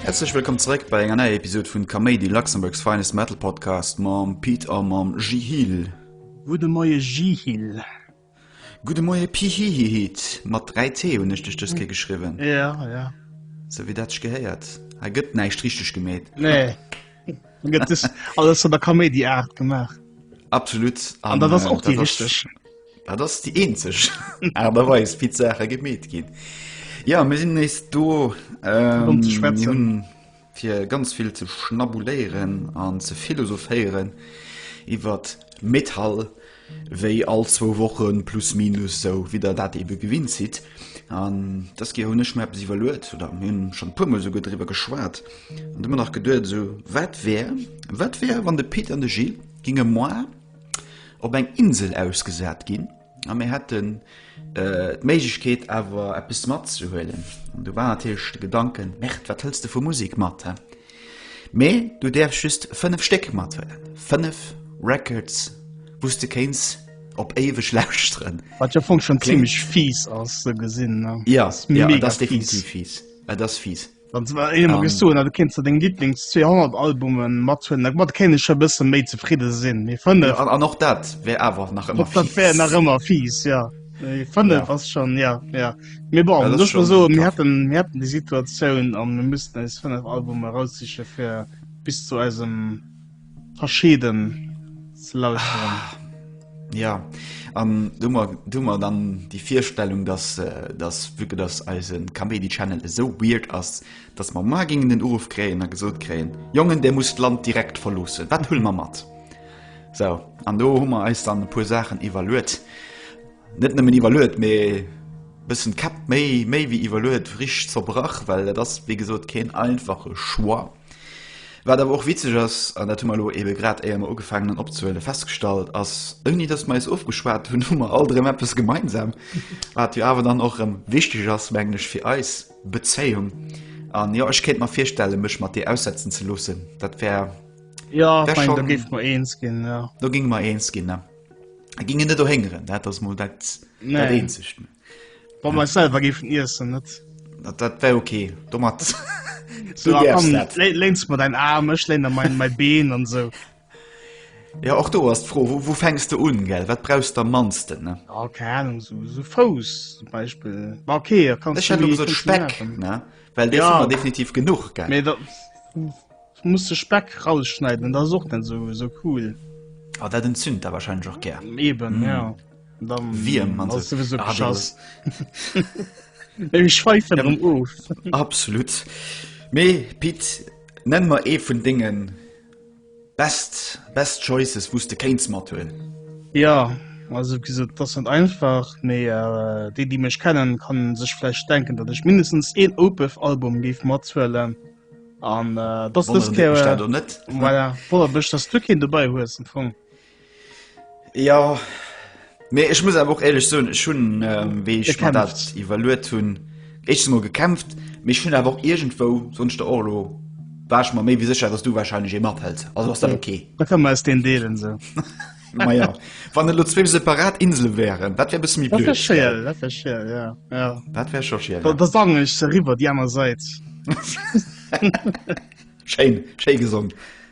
Herzlech wëllkomm zeréck bei enger neier Episod vun Kaméidi Luxemburgs Finest Metal Podcast mam Pete a mam Jihil. Gudde Moie Jihil. Gudde Moie Pihihihiit, mat 3 t hunn ech dech dës Kéier geschriwwen. Ja, ja. Sou wéi dat sech gehéiert. Hei gëtt näischt richteg gemeet. Nee. Hei gëtt dës alles an der Kaméidi-Aart gemaach. Absolut. An dat ass och déi richteg. Dat ass déi eenzeg Aart a Weis, wéi d'Saache gemeet ginn. Jo, mir sinn nees do. Fir drun ze schwätzen. fir ganz vill ze schnabuléieren an ze philosophéieren iwwert Metall, wéi all zwou Woche plus minus, sou wéi Der dat ebe gewinnt sidd. An dëskeer hunn ech mer eppes iwwerluet, oder mir hunn schonn e puermol esouguer driwwer geschwat an ëmmer nach geduet, esou, wat wär, wat wär, wann de Pit an de Gilles géinge moi op eng Insel ausgesat ginn, A mir hätten d'Méiglechkeet awer eppes matzehuelen. An do war natierlech de Gedanken, Merde, wat hëls de vu Musek mat? Mee du däerfs just fënnef Stéck mathuelen, fënnef Records, wou s de kéints op éiweg lauschteren. Wat jo am Fong schonn zimmlech fies ass, sou gesinn. Jo, jo, et ass definitiv fies. Et ass fies. Dann ze war eemol gest du, du kenst du deng Lieblings 200 Albumen mat hunn, da mat kenne cher bësse méi zefridde sinn. Mee fënne ja, an och dat wär awer nach ëmmer dat wär nach ëmmer fies, ja. Fënne ja. was schon ja ja. Mir bon, ja, duch so mir hätten mir hätten déi Situatioun an mir müssten eis fënnef Albume raussiche fir bis zu eisem. verscheden ze lauschteren. Ja an dummer dummer dann déi Virstellung, dass dass wike dass eise Kaméidi Channel esou weird ass, dass mer mar géingen den Uruff kréien a gesot kréien, Jongen där musst d'Land direkt verloossen, wat huele mer mat? Sou an do hu mer eis dann e puer Saachen iwwerluet, net nëmmen iwwerluet, mee bëssen d'Käpp méi méi wéi iwwerluet rich zerbrach, well dat ass wéi gesot keen einfache Choix. Wat awer och witzeg ass, an dat hu mer elo eebe grad éier mer ugefaangen hunn opzehuelen, festgestallt, ass, ouni datt mer eis ofgeschwat hunn, hu mer all drëm eppes gemeinsam, wat jo awer dann och erëm wichteg ass, mengen ech, fir eis Bezéiung. An jo, ech kéint mer virstellen, mech mat dir aussetzen ze loossen, dat wär, Jo, ech mengen, do géife mer eens ginn, jo. Do géinge mer eens ginn, ne? Géinge net dohéngeren, dat ass mol dat, dat Eenzegt. Wa ma selwer géifen iessen net. Dat dat wär okay domat So, Du däerfst komm, dat. lé- léins mat dein Arm, ech léin der mein, mein Been an so. Ja och do ass d'Fro wou, wou fänks de un gell, wat brauchs de am mannsten ne? Ja, keine Ahnung, so, so Fouss zum Beispill. War okay, da kannst Ech hätt lo gesot Speck ne, well dee Ja. hu mer definitiv genuch gell. Mee da muss de Speck rausschneiden, dat ass och net so, so cool. A dat entzünt der wahrscheinlech och gär. Eben, ja. Wiem ass souwisou beschass. Ech schweifen erëm of. Absolut. Mee Pit, nenn mer ee vun denge best, best choices, wou s de kéints mat huelen. Ja, also wéi gesot, dat ass net einfach, mee déi déi mech kennen, kann sech vläicht denken, datt ech mindestens een Opeth Album géif mathuelen an dat ass dës Kéier, voilà, wonnert mech datt s du keen dobei hues am Fong. Ja mee ech muss awer och éierlech soen, ech hunn ähm, wéi ech mer dat Gekämpft. iwwerluet hunn, éischtens mol gekämpft, mee ech hunn awer och iergendwou, soen ech der och elo, war ech mer méi wéi sécher, datt du warscheinlech ee mathëls. Also ass dat ok. Da kann mer eis deen deelen esou. Maja, wann et elo zwee separat Insele wären, dat wär e bësse méi Dat wär blöd, gell? schiel, dat wär schiel, ja, ja. Dat wär scho schiel, Da, ja. da sangen ech se eriwwer déi aner Sait. Schéin, schéi gesongen.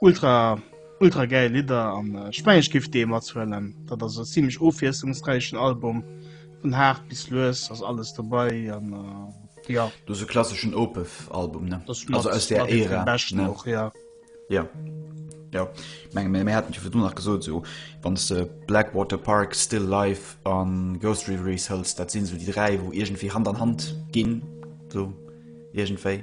Ultra ultra gäil Lidder an ech mengen ech géif dee mathuelen. Dat ass e zimlech ofwiesslungsräichen Album, vun haart bis lues ass alles dobei an jo. Dat ass e klasseschen Opeth Album, ne? Dat ass mat mat ee vun de beschten och, jo. Jo, jo, ech menge mir haten et jo virdu nach gesot, esou wann s de Blackwater Park, Still Life a Ghost Reveries hëls, dat sinn esou déi dräi wou iergendwéi Hand an Hand ginn, esou iergendwéi.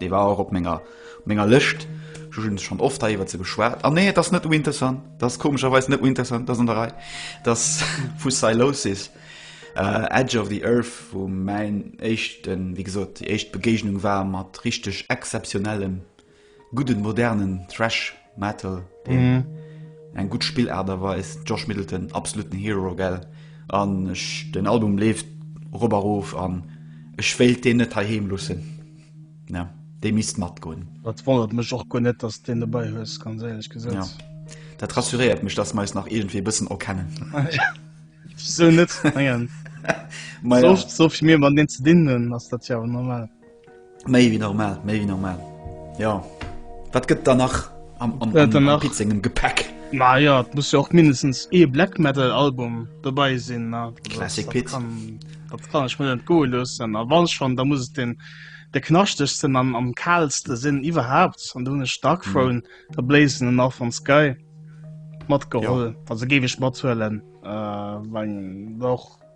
Dee war och op menger op menger Lëscht. Ech hunn schonn oft hei iwwert se geschwat. Ah nee, et ass net Winterson. Et ass komescherweis net Winterson. Et ass an der Rei. Et ass vu Sylosis, Edge of the Earth, wou mäin éischten, wéi gesot, déi éischt Begéignung war mat richteg exzeptionellem, gudden, modernen Thrash. Metal den eng gutt Spillart erweist. Josh Middleton absoluten Hero gell an ech den Album leeft rober rof an ech wéilt deen net hei heem lussen. Ja dee misst matgoen. Dat wonnert mech och guer net dass deen dobäi hues ganz éierlech gesot. Ja dat rassuréiert mech dass mer eis nach iergendwéi e bëssen erkennen. Wisou net mengen Maja. sovill mir mat deen ze dinn hunn ass dat jo awer normal. Méi wéi normal, méi wéi normal. Jo. Wat gëtt dann nach am Pizzingem Gepäck? Ma jo, et muss jo och mindestens ee Black Metal Album dobäi sinn. Classic Pit. Dat kann ech mir net goe loossen. A wann schonn, da muss et den de knaschtechsten an am kalste sinn iwwerhaapt. An du hunn ech Dark mhm. Throne, der Blazen an Northern Sky matgeholl. Also géif ech mathuelen, äh, wann och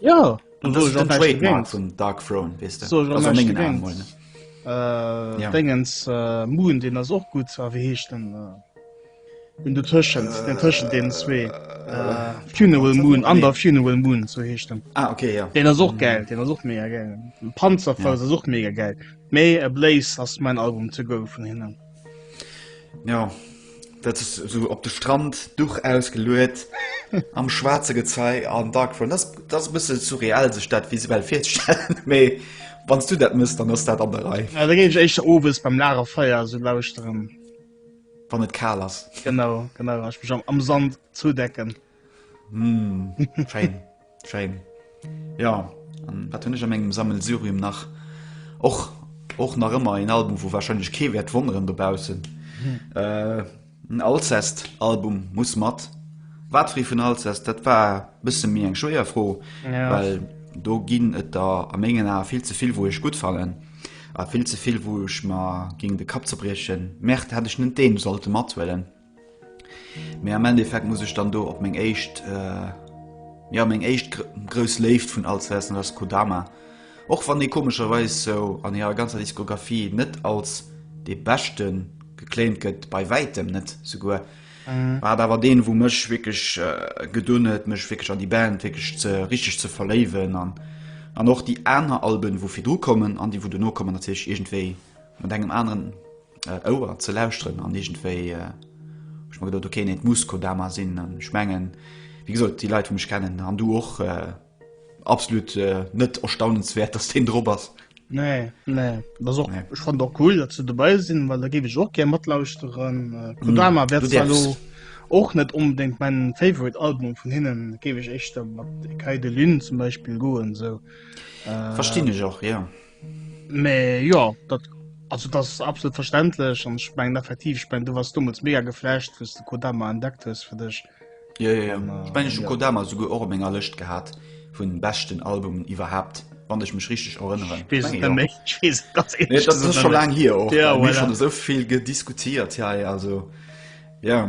Ja vum Dark Fro Dingens Moon den ass och gut a wie heescht den hun du tëschent den tëschen den zwee Funeral Moon an der Funeral Moon zo heeschten ah, okay, ja. Den ass och gell den ass och mé gell Panzerfall ja. such mé gell méi e Blaise ass mein Album ze go vun hinnen. Jo, dat ass esou op de Strand, Duch ausgeluet, am schwaarze Gezei an Dark Throne. Dat ass e bësse surreal, sech dat visuell virzestellen. Mee wann s du dat mëss, dann ass dat an der Rei. Da géif ech éischter owes beim Lagerfeier esou lauschteren. Wann et kal ass. Genau, genau. An ech mech am Sand zoudecken. Mmh, schéin, schéin. Ja, an wat hunn ech an mengem Sammelsurium nach? Och, och nach ëmmer en Album, wou wahrscheinlech kee wäert wonneren dobaussen. Hm. Äh, en Alcest-Album muss mat. Wat fri vun Alcest, dat war bësse méi eng schwéier Fro, ja. well do ginn et da a mengen Ae vill ze vill, wou ech gut fallen. A vill ze vill, wou ech ma géng de Kapp zerbriechen. Merde, hätt ech net deen sollte mathuelen. Mee am Endeffekt muss ech dann do op meng éischt äh, ja meng éischt gr grous Léift vun all Zessen ass Kodama. Och wann dee komescherweis sou an hirer ganzer Diskografie net als dee beschte geclaimt gëtt, bei wäitem net souguer, war et awer deen wou mech wierklech gedunn huet mech wierklech an déi Band wierklech ze richteg ze verléiwen an an och déi aner Alben wou virdru kommen an déi wou dono kommen natierlech iergendwéi mat engem aneren äh, Ouer ze lauschteren an irgendwéi äh, ich mein, gedacht, okay, nee, muss Kodama sinn an ich mengen wie gesagt, die Leute mich kennen an du och äh, absolut äh, net erstaunenswert dass den Dr ass. Nee, nee. Das auch, nee. Ich fand auch cool, dass du dabei sind, weil da gebe ich auch gerne mitlauschen. Äh, Kodama mm, wird zwar och net unbedingt mein favorite Album von hinnen gebe ich echt mat Kai de Lune zum Beispiel goen so äh, verstehen ich auch ja Me jo dat also dat ass absolut verständlech an ech mengen effektiv ech meng du warst dommels mega geflasht wou's de Kodama entdeckt hues fir dech. Jo jo jo, An, ech mengen ech hu ja. Kodama souguer och op menger Lëscht gehat vun beschten Albumen iwwerhaapt, wann ech mech richteg erënneren. Ech weess et net méi, ech weess et ganz Nee, ehrlech dat ass gesot scho net méi. laang hier och, Ja, mir hu voilà. schonn esou vill gediskutiert hei, also jo.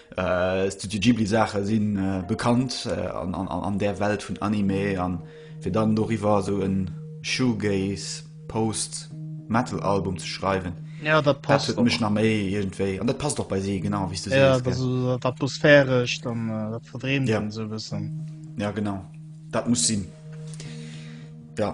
Studio Ghibli Saache si bekannt an där Welt vun Anime an fir dann doriwwer esou e Shoegaze Post Metal Album ze schreiwen, dat huet mech nach méi iergendwéi, an dat passt och bei si, genau wéi s du sees. Jo, dat ass esou dat Atmosphärescht an dat Verdreemten esou e bëssen. Jo, genau, dat muss sinn, jo.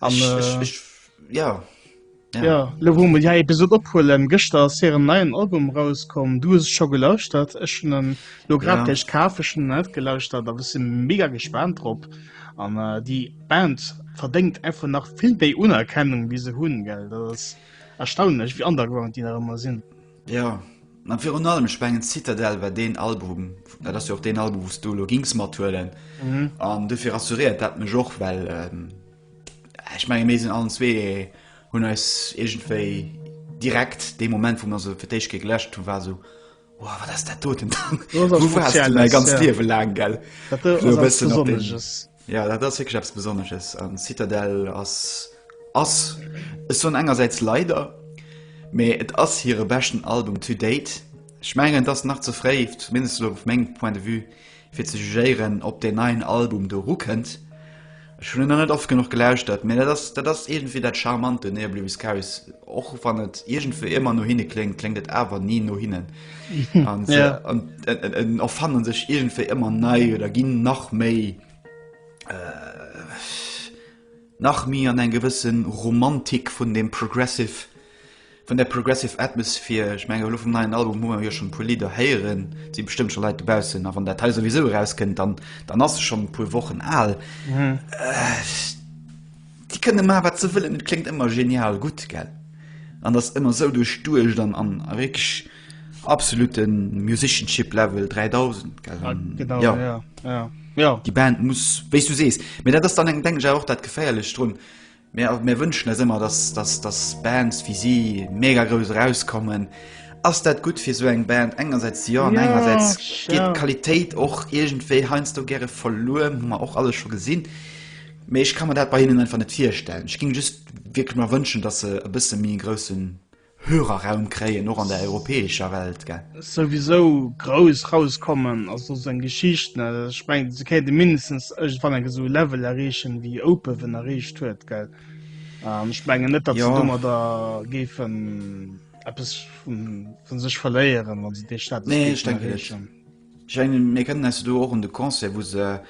An, ich, äh, ich, ich, ja. Ja. ja, lo wo mir ja Episode ophuelen, gëschter ass hiren neien Album rauskom, du hues scho gelauschtert, ech hun en lo grad ja. kafeschen net gelauschtert, a sinn mega gespannt drop an äh, déi Band verdenkt einfach nach vill déi Unerkennung wie se hunn gell, dat ass erstaunlech wie underground die da immer sinn. Jo, an virun allem ech mengen Citadel war deen Album, dat ass jo och deen Album, wou's du elo gings mathuelen. Mhm. An dofir rassuriert dat mech och, well ähm, ech menge mir sinn allen zwee hunn eis iergendwéi direkt dee Moment, wou mer se fir d'éischt Kéier geläscht hunn, war esou Wow, wat ass dat doten? Dat ass was Wou wars du mäi Spezielles, ganz ja. Liewe laang, gell? Dat Esou ass e eppes bëssen op den- Besonnesches. Jo dat ass wierklech eppes Besonnesches an Citadel ass ass, ech soen engersäits leider, mee et ass hire beschten Album to date. Ech mengen et ass nach ze fréi, zumindest elo vu mengem Point de vue, fir ze jugéieren ob deen neien Album do erukënnt. Ech hunn en nach net oft genuch gelauschtert, mee dat ass dat ass iergendwéi dat Charmant un Neoblimus Chaos, och wann et iergendwéi ëmmer no hinne kléngt, kléngt et awer ni no hinnen. an se ja. erfannen sech irgendwéi ëmmer nei oder ginn nach méi äh, nach mi an eng gewëssen Romantik vun dem Progressive vun der Progressive Atmosphär ich menge vum neuen Album hu jo schon pu Lider héieren sie bestëmmt schon Leiit dobausen a wann der Teil sowieso rauskënnt dann dann ass schon pu wochen al mhm. äh, Déi kënne man wat se wëllen, et kléngt ëmmer genial gutt, gell? An ass ëmmer sou duerchduecht an an a wierklech absolute Musicianship Level 3000, gell? An genau, ja. ja, ja, ja. Déi Band muss, wéi s du sees, mee dat ass dann eng, denken ech, awer och dat Geféierlecht drun, mir, mir wënschen eis ëmmer, dass, dass, dass Bands wéi si mega grouss erauskommen. Ass dat gutt fir esou eng Band? Engersäits jo an Ja, engersäits geet ja. d'Qualitéit och iergendwéi heiansdo gäre verluer, hu mer och alles scho gesinn. Mee ech ka mer dat bei hinnen einfach net virstellen. Ech géing just wierklech mer wënschen, dass se e bësse méi e groussen Hörerraum kréien, och an der europäescher Welt, gell. Souwisou grouss rauskommen ass och seng Geschicht net. Ech mengen, se kéinte mindestens iergendwann enk esou e Level erreechen, wéi Opeven erreecht huet, gell. An ech mengen net, datt se domadder géifen eppes vu sech verléieren, wa se dee Status géifen erreechen. Jeanny, mir kennen eis do och un de Concert, wou se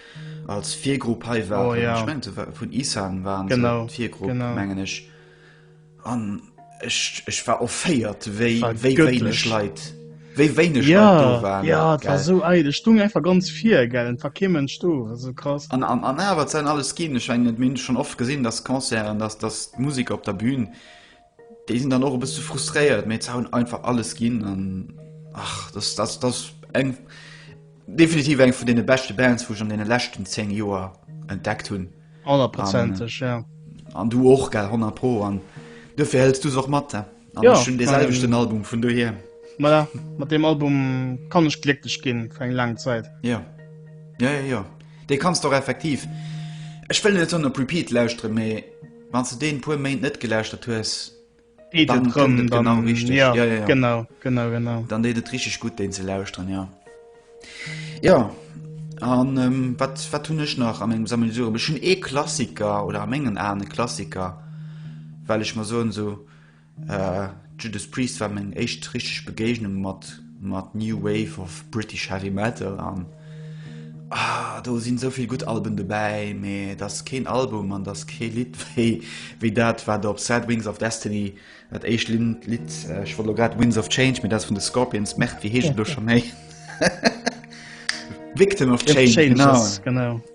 als Virgrupp hei waren. Oh, ja. Ech mengen, se war vun Isan waren se, Genau, d'Virgrupp, genau. mengen ech. An ech, ech war offéiert, wéi, War wéi wéineg göttlich. Leit, wéi wéineg Leit do Ja, waren. ja, et war gell? esou eidel. Et stoung einfach ganz vir, gell, et war kee Mënsch do, esou krass. An, an, an awer, et säin alles ginn. Ech mengen, mir hunn schonn oft gesinn, dass Concerten, dass, dass d'Musiker op der Bühn, Déi sinn dann och e bësse frustréiert, mä se hunn einfach alles ginn an ach, dass dass dass eng definitiv eng vun deene beschte Bands, wou ech an deene leschten 10 Joer entdeckt hunn. Honnertprozenteg, ja. An du och, gell? Honnert pro. An duerfir hëls du se och mat. An ech hunn dee selwechten Album, vun dohier. Ma ja, mat deem Album kann ech glécklech ginn, fir eng laang Zäit. Jo. Jo, jo, jo. Dee kanns de och effektiv, ech wëll net soen op Repeat lauschteren, mä. Wann du deen puer Méint net gelauschtert hues, dann kënnt et genau richteg. Ja, ja, ja. Genau, genau, genau. Dann deet et richteg gutt, deen ze lauschteren, ja. Ja, an ähm, wat, wat hunn ech nach a mengem Sammelsurium? Ech hunn ee Klassiker oder a mengen Aen e Klassiker, well ech mer soen, sou, Judas Priest war meng éischt richteg Begéignung mat mat New Wave of British Heavy Metal an ah, do sinn esou vill gutt Alben dobäi, mee et ass keen Album an et ass kee Lidd wéi wéi dat, wat op Sad Wings of Destiny, dat éischt Linn Lidd, ech wollt elo grad Winds of Change, mee dat ass vun de Scorpions, merde, wéi heescht et elo scho méi? Victim of Change, genau. Changes, genau.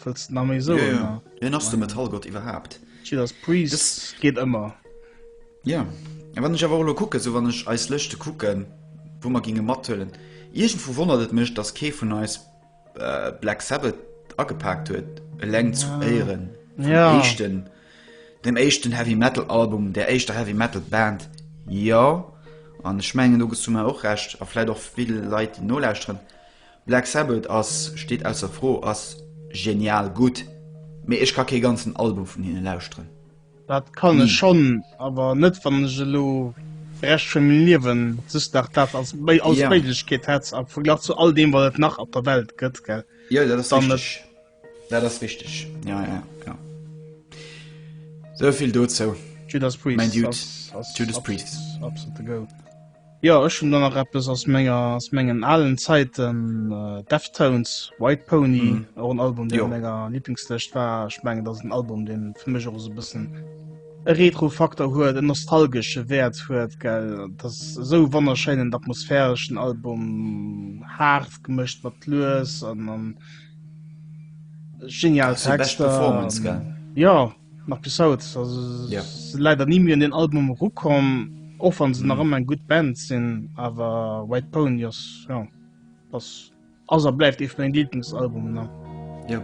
Wëlls de nach méi soen? Ja, ja. Wien ass de Metallgott iwwerhaapt? Judas Priest, das geht ëmmer. Ja, a wann ech awer och elo kucken, esou wann ech eis Lëschte kucken, wou mer ginge mathuelen, iergendwou wonnert et mech, datt kee vun eis Black Sabbath agepaakt huet, eleng zu Éieren vum éischten, dem éischten Heavy Metal Album, der éischter Heavy Metal Band. Jo, an ech mengen do gëss du mer och Recht, a vläit och vill Leit déi nolauschteren. Black Sabbath ass, steet ausser Fro, ass genial gutt, mee ech ka kee ganzen Album vun hinne lauschteren. Dat kann ech schonn, awer net wann ech elo de Rescht vu mengem Liewen just nach dat als Méiglechkeet hätt, am Verglach zu all deem wat et nach op der Welt gëtt, gell? Jo, dat ass richteg. Dat ass richteg, ja, ja, ja. Sou vill dozou. Judas Priest. Mein Dude. Judas Priest. Absolute Goat. Ja, ech hun dann nach eppes aus menger, aus mengen alen Zeiten, äh, Deftones, White Pony, mm. auch ein Album, der mega Lieblingslöscht war. Ich meine, das ist ein Album, den für mich auch so ein bisschen Retro-Faktor huet, en nostalgesche Wert huet gell das so wonnerscheinen atmosphärischen Album hart gemëscht mat lues an an Genial Texter. Ja nach bis haut ja. leider nie mir in den Album rukom och an se nach ëmmer en gut Band sinn awer White Pony ass ja, ass ass er bleift eef meng Lieblingsalbum ne. Ja.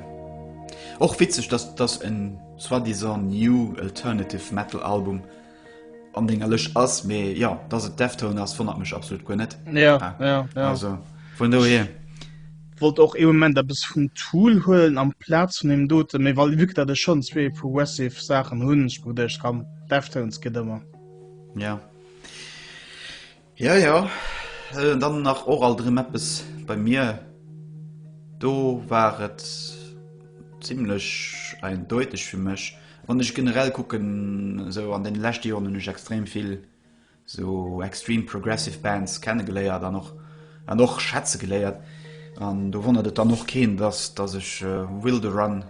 Och witzeg, dass dass en soi-disant new alternative Metal Album an denger Lëscht ass, mee jo, dass et Deftones ass, wonnert mech absolut guer net. Ja, ja, ja. Also, vun dohier. Ech wollt och ee Moment eppes vum Tool huelen amplaz vun deem doten, mee well vue que dat ech schonn zwee Progressive Saachen hunn, ech geduecht, komm, Deftones geet ëmmer. Ja. Ja ja, an dann nach och alt erëm eppes bei mir. Do war et zimlech eindeuteg fir mech. Wann ech generell kucken, esou an den leschte Joren hunn ech extrem vill esou extreme progressive Bands kennegeléiert an och an och schätze geléiert. An do wonnert et dann och keen, dass dass ech Wilderun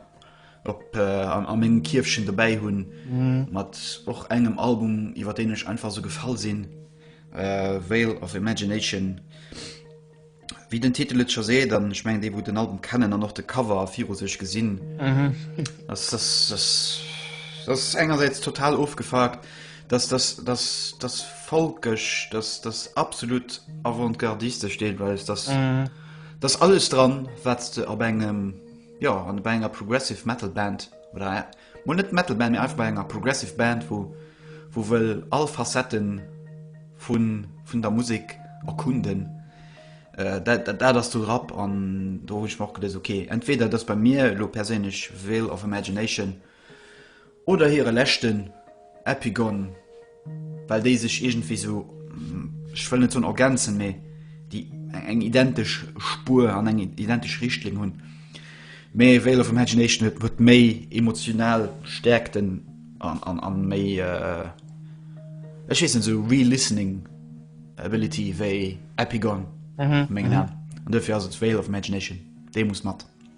op an a mengem Kierfchen dobäi hunn, mat och engem Album, iwwer deen ech einfach esou gefall sinn, Veil of Imagination. Wéi den Titel et scho seet, an ech mengen, déi, wou den Album kennen an och de Cover viru sech gesinn, dass dass dass dass engersäits total ofgefuckt, dass dass dass dass folkesch, dass dass absolut avantgardistesch deelweis, dass dass alles dran, wat s de op engem. Jo, an bei enger Progressive Metal Band, oder mol net Metal Band, mee einfach bei enger Progressive Band, wou, wou wëll all Facetten vun, vun der Musek erkunden, äh, dat, dat ass do Rap. An do hunn ech mer och geduecht, ok, entweder et ass bei mir elo perséinlech Veil of Imagination, Oder hire leschten Epigon, well déi sech iergendwéi sou, ech wëll net soen ergänzen, mee déi eng identesch Spuer an eng identesch Richtlinn hunn. Mee Veil of Imagination huet huet méi emotional Stäerkten an an an méi, ech weess net, sou re-listening ability wéi Epigon, mengen an. An dofir ass et Veil of Imagination, dee muss mat.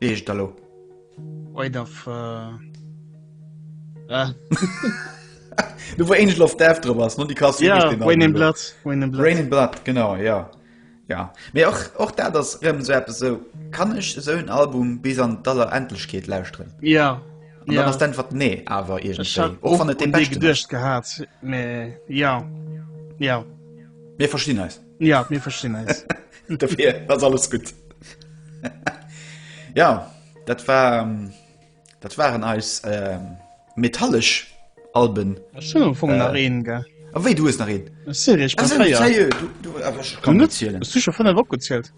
Eescht elo. Wait of. Do wou Angel of Death drop ass, no déi Kass. Ja, Rain in Blood. Rain in Blood, genau, ja. Ja. Mee och, och dat ass rëm esou eppes, esou, Kann ech esou en Album bis an d'Allerendlechkeet lauschteren? Ja. An dann ass d'Äntwert nee, awer iergendwéi. Och wann et dee beschte. Ech hat et och geduecht gehat, mee ja, jo. Mir verstinn eis. Ja, mir verstinn eis. Dofir ass alles gutt. Ja, dat war, ähm, dat waren eis, ähm, metallesch Alben. Ech schon am Fong nach een, gell? A wéi, du hues nach een? Sérieux, ech Ah, bin sérieux, fréier. sérieux, du, du, awer ech kann net zielen. Hues du schon 5 opgezielt?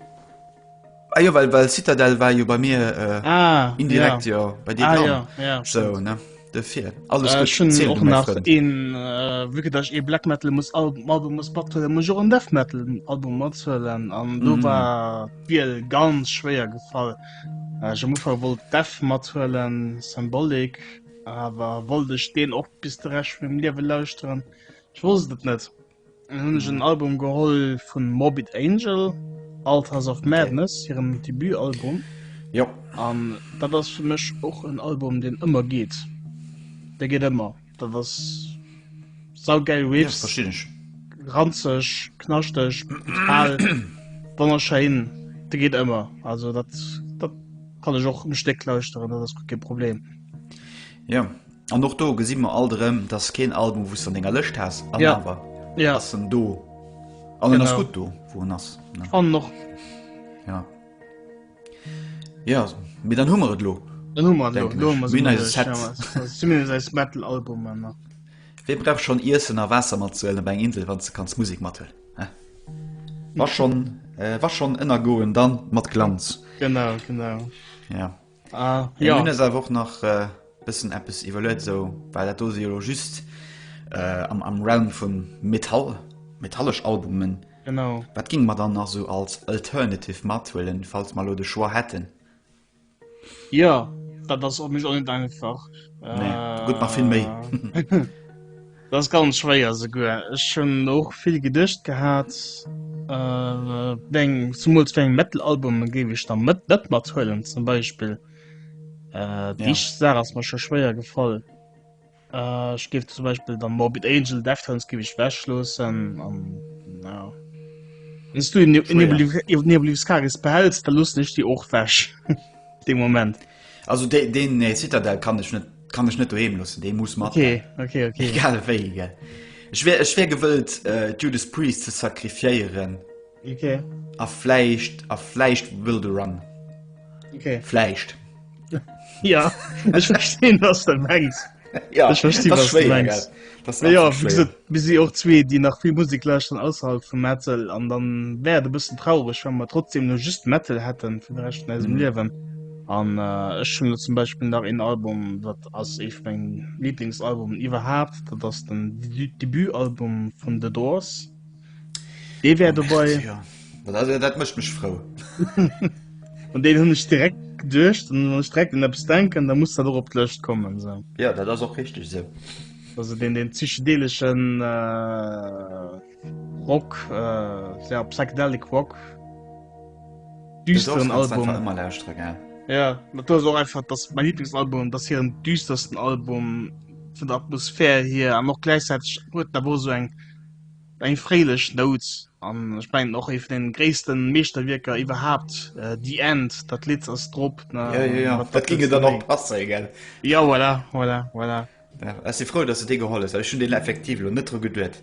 Ah jo, well, well Citadel war jo bei mir äh, ah, indirekt ja. jo bei dir ah, ja, ja, so, ne? Defir alles äh, schon zählt, och nach een äh, wëke dach ee Black Metal muss Album Album muss bat muss jo en Death Metal Album matzwellen an mm. do mhm. war wieel ganz schwéier gefall. Äh, jo muffer wollt Death matzwellen Symbolik awer wollt ech deen och bis de recht vum Liewe lauschteren. Ech wosst et net. Dann hunn ech en Album geholl vun Morbid Angel, Altars of Madness, hirem Debutalbum. Jo. An dat ass fir mech och en Album, deen ëmmer geet. Dee geet ëmmer. Dat ass saugeil Riffs. Verstinn ech. Ranzeg, knaschteg, brutal, wonnerschéin. Dee geet ëmmer. Also dat kann ech och um Stéck lauschteren, dat ass gutt, kee Problem. Jo. An och do gesi mer alt erëm, dass keen Album wouss an denger Lëscht has an ja. awer ja. ass en do an den ass gut do wo en ass an noch ja. ja mé dann hummer et lo metal Album Wie brauch schon Issen a Wasser mat zuelen eng Insel wann ze kanns Musik mat war schon äh, war schon ënner goen dann mat Glanz genau genau ja Ah, ja. Nun ist einfach auch nach äh, bisschen etwas evaluiert, so, weil das ist ja just äh, am, am Realm von Metall, metallisch Albumen. Genau. Was ging man dann noch so als Alternative mitwählen, falls wir den Choix hätten? Ja, das ist auch nicht einfach. Nee, äh, gut, mach viel mehr. Dat ass ganz schwéier esouguer. Ech hunn och vill geduecht gehat, zumools wéi eng Metal-Albume géif ech da net mathuelen zum Beispill. Déi éischt Saach ass mer scho schwéier gefall. Ech géif zum Beispill dann Morbid Angel, Deftones géif ech ewechloossen. An jo, wann s du In Nebulus Charis behälls, da loossen ech déi och ewech dee Moment. Also de, den äh, Citadel kann ech net kann ech net doheem lossen, dee muss mat. Okay, okay, okay. Egal wéi, gell. Ech wär, ech wär gewëllt, äh, Judas Priest ze sakrifiéieren. Okay. A fläicht, a fläicht Will the Run. Okay. Fläicht. ja, ech verstehen, was du mengst. ja, ich verstehe, das was schwer, du meinst. Das ja, wie gesagt, wir sind auch zwei, die nach viel Musik lauschten außerhalb von Metal. Und dann wäre es ein bisschen traurig, wenn wir trotzdem nur just Metal hätten für den Rest von unserem mhm. Leben. Und äh, ich schon zum Beispiel nach ein Album, das als ich mein Lieblingsalbum überhaupt, das ist dann das Debütalbum von The Doors. Dee wär dobei. Ja. Dat, also, dat mëcht mech frou. An deen hunn ech direkt geduecht an wann ech direkt un eppes denken, da muss dat och op d'Lëscht kommen. So. Ja, dat ass och richtig se. So. Also den, den psychedeleschen äh, Rock, äh, ja, Psychedelic Rock. Düsteren Album. Immer lauschteren, ja. Ja, dat ass och einfach das mein Lieblingsalbum, das hier en düstersten Album vun der Atmosphär hier an och gleichzeitig huet da wo so eng Eng fréilech Nout, an ech mengen och ee vun den gréissten Meeschterwierker iwwerhaapt, The End, dat Lidd ass drop. Jo, jo, jo, dat ging jo dann och passen, gell? Jo, voilà, voilà, voilà. Ech si frou, dass du dee geholl hues, well ech hunn deen effektiv elo net dru geduet,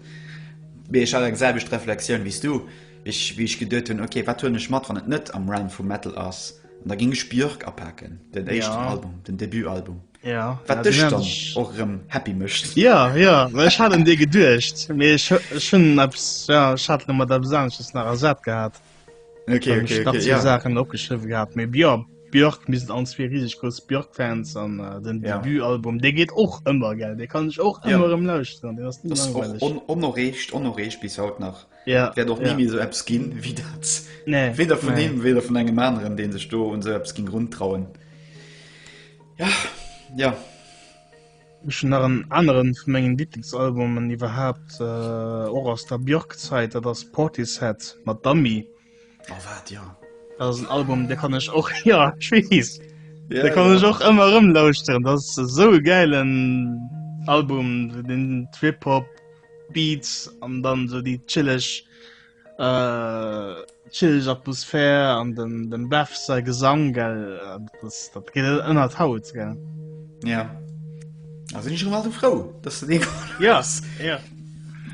mee ech hat eng selwecht Reflexioun wéi s du, wéi ech geduet hunn, ok, wat huelen ech mat, wann et net am Realm vum Metal ass, an da géing ech Björk apaken, den éischten Album, den Debutalbum. ja, wat dech dann och rem happy mecht ja ja well ich hat dir gedurcht mir schon ja, hat mat der besanches nach ersat gehabt okay, okay, okay, okay ja. sachen opgeschrieben gehabt mir ja Björk mis an zwee riesg gro Björkfans an äh, den ja. Debüalbum de geht och ëmmer geld de kann ich och ja. ëmmer im laus onrecht onrecht bis haut nach ja der doch ja. nie so App skin wie dat nee. weder von nee. dem weder von engem anderen den sech do und so App skin run trauen Ja, ja. Ech hun nach en aneren vun mengen Lieblingsalbumen iwwerhaapt, äh, och aus der Björk-Zait, dat ass Portishead mat Dummy. Oh, wat, ja. Dat ass en Album, dee kann ech och, ja, ech weess, dee kann ech och ëmmer erëm lauschteren. Dat ass esou e gäilen Album, den Trip-Hop, Beats an dann esou déi chilleg. Äh, chillig Atmosphär an den, den Bev sei Gesang, gell, äh, das, das geht ënnert Haut, gell. Ja. Also ich schon mal so froh, dass du den Ja, ja.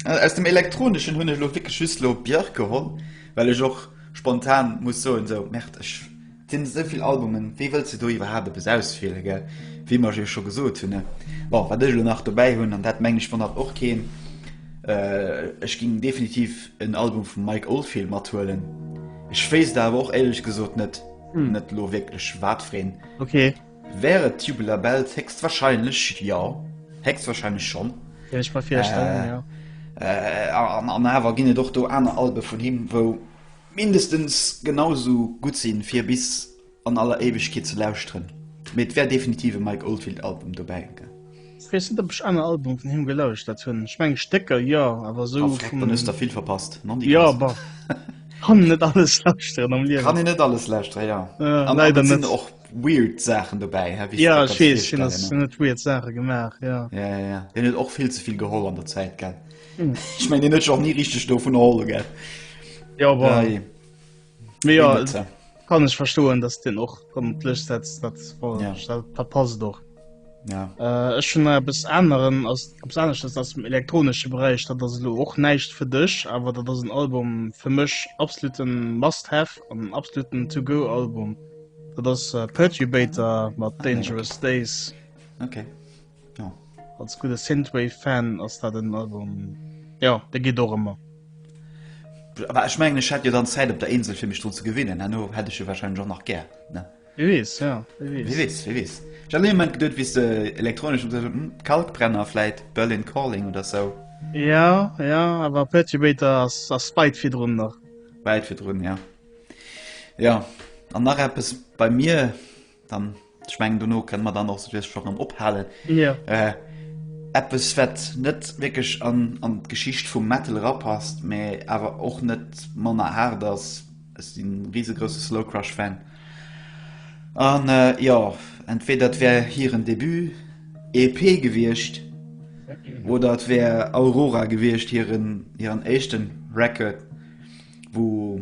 Äh, aus dem elektronischen hun ich lo wirklich just lo Björk geholl, weil ich och spontan muss so und so, merkt ich Sinn esou vill Albumen, wéi wëlls de do iwwerhaapt eppes auswiele gell? Wéi mer jo scho gesot hunn, bon wat ech elo nach dobäi hunn, an dat mengen ech wonnert och keen, ech géing definitiv en Album vum Mike Oldfield mathuelen. Ech wéisst awer och éierlech gesot net net elo wierklech watfireen. Wär et Tubular Bells? Héchstwahrscheinlech jo, héchstwahrscheinlech schonn. An awer ginn et och do aner Albe vun him wou, Mindestens genau esou gutt sinn fir bis an aller Éiwegkeet ze lauschteren, mee et wär definitiv e Mike Oldfield Album dobäi ge. Ech weess net op ech aner Albume vun him gelauschtert hunn, ech mengen Stécker jo, awer esou vum. Ah freck, dann hues der vill verpasst, non déi ganz. Jo bah, kann een net alles lauschteren am Liewen. Kann een net alles lauschteren, jo. An et sinn och weird Saachen dobäi, wéi jo ech weess, hien huet weird Saache gemaach, jo. Jo jo jo, hien huet och vill ze vill geholl an der Zäit, gell. Ech mengen deen huet sech och ni richteg dovun erholle gell. Jo bah. Dei Mee jo, Limite. kann ech verstoen, datt deen och rëm op d'Lëscht setzt, dat war Ja. dat, dat passt och. Ja. Äh, ech hunn nach eppes aneren, ass eppes aneschters aus dem elektronesche Beräich, dat ass elo och näischt fir dech, awer dat ass en Album fir mech absoluten must have an en absoluten to go Album. Dat ass äh, Pertubator mat Ah, nee, Dangerous Days. Okay. Jo, als gudde Synthwave Fan ass dat en Album, jo, dee geet och ëmmer. Awer ech mengen ech hätt jo dann Zäit op der Insel fir mech drun ze gewinnen, herno hätt ech e wahrscheinlech och nach gär, ne? Wie weess, jo, wie weess. Wie weess, wie weess. Ech hat an deem Moment geduet, wéi s de elektronesch gesot hues, hm, Kalkbrenner vläit, Berlin Calling oder sou. Jo, jo, awer Perturbator ass, ass weit virdrun nach. Wäit virdrun, jo. Jo, an nach eppes, bei mir. Dann ech mengen duno kënne mer dann och souwies scho rëm ophalen. Ja. Äh, Eppes wat net wéckeg an, an d'Geschicht vum Metal rapasst, mä awer och net manner haart ass. Ech sinn en risegrouse Slow Crush Fan. An äh, jo, entweder et wär hiren Debut EP gewiescht oder et wär Aurora gewiescht hiren, hiren éischten Record, wou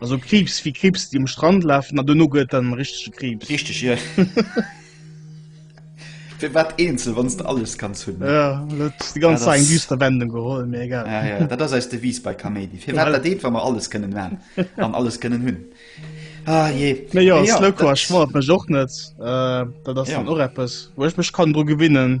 Also Kriibs wéi Kriibs déi um Strand lafen a duerno gëtt et dann richtege Kriibs. Richteg jo. Firwat eenzel wann s de alles kanns hunn? Jo dat hues de ganz eng düster Wendung geholl, mee egal. Jo jo dat ass eis Devise bei Kaméidi. Firwat dat eent wa mer alles kënnen man an alles kënnen hunn. Ah jee. Mee jo Slow Car schmoddert mech och net. Dat ass dann och eppes wou ech mech kann dru gewinnen.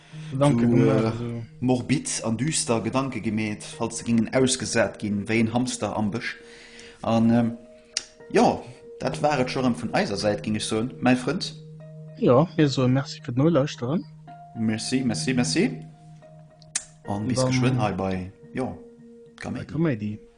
Morbid an düster Gedanke gemeet, falls se gingen ausgesat gin wéi een Hamster am Bësch. An jo, dat war et scho rem vun eiser Säit, ging ech soen, mäi Frënd. Jo, mir soe Merci fir d'Nolauschteren. Merci, merci, merci an bis geschwënn hei bei, jo, Kaméidi.